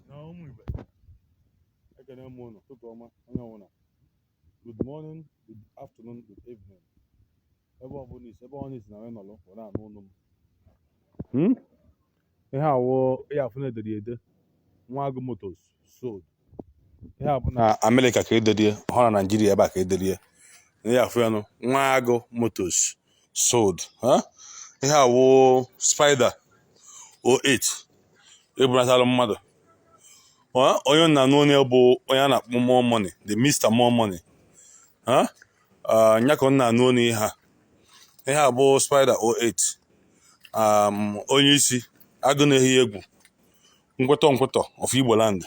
na ụmụ Igbo ekene m ụnụ ụtụtụ ọma onye ọbụla good morning good afternoon good evening ebe ọbụla isi ebe ọnụ isi na wee nọrọ were anụ onu m hmm? ihe awụ ya afụ na e dere ede nwa agụ motors sold ihe a bụ na amerịka ka ederie ọ wụrọ na naijiria ebe a ka ederie ị na-afụ ya nụ nwa agụ motors sold ha ihe a wụ spider 08 e bunatalụ mmadụ Ha? onye nna n'onye bụ onye a na-akpọ more money the Mr. more money ha Ah, nya ka ọ nna n'onye ihe a ihe a bụ spider 08 um, onye isi agụ na-ehi egwu nkwetọ nkwetọ of Igbo land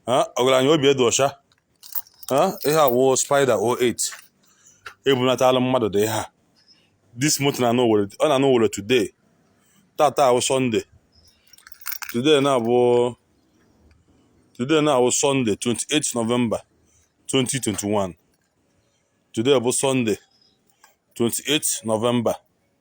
ha ọgaranya obi e dụ ọcha Ha? ihe a wụ spider 08 e bunatala mmadụ dị ha this month na anụ were ọ na anụ were today tata awụ sunday today na abụ today na awụ sunday 28 november 2021 today bụ sunday 28 november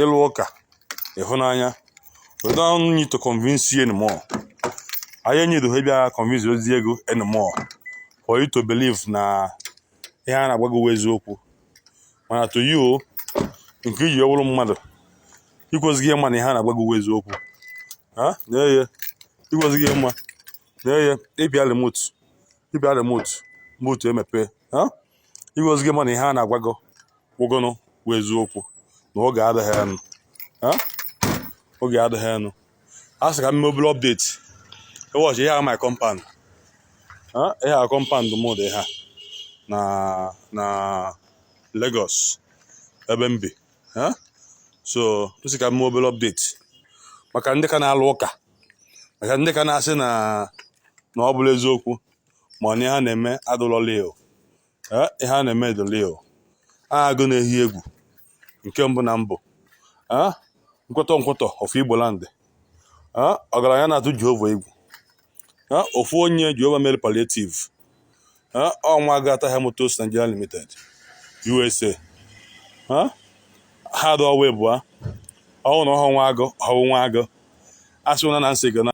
ịlụ ụka ịhụnanya we don't need to convince you anymore anyị need ha ịbịa convince zie gị anymore for you to believe na ihe a na-agwa gị wụ eziokwu mana to you nke i ji wụrụ mmadụ ikwesịghị ịma na ihe a na-agwa gị wụ eziokwu na-eye ikwesịghị ịma na-eye ị pịa remote ị pịa remote moto emepe ikwesịghị ịma na ihe a na-agwa gị wụ gịnị bụ eziokwu na oge adịghị nụ oge adịghị nụ a sị ka m mee obere update ị watch ihe a my compound ihe a compound m dị ha na na Lagos ebe m bi so m sị ka m mee obere update maka ndị ka na-alụ ụka maka ndị ka na-asị na na ọ bụlọ eziokwu ma ọ na ihe a na-eme adụlọ real. Ee, ihe a na-eme dụ real agụ na-ehi egwu nke mbụ na mbụ Ee, nkwụtọ nkwụtọ of Igbo land Ee, ọgaranya na-atụ jehova egwu Ee, ofu onye jehova mere palliative ọ nwa agụ ata ahịhịa motors Nigeria limited USA ha dọwa ịbụa ọ wụ na ọ wụ nwa agụ ọ wụ nwa agụ asị na na m sị gị na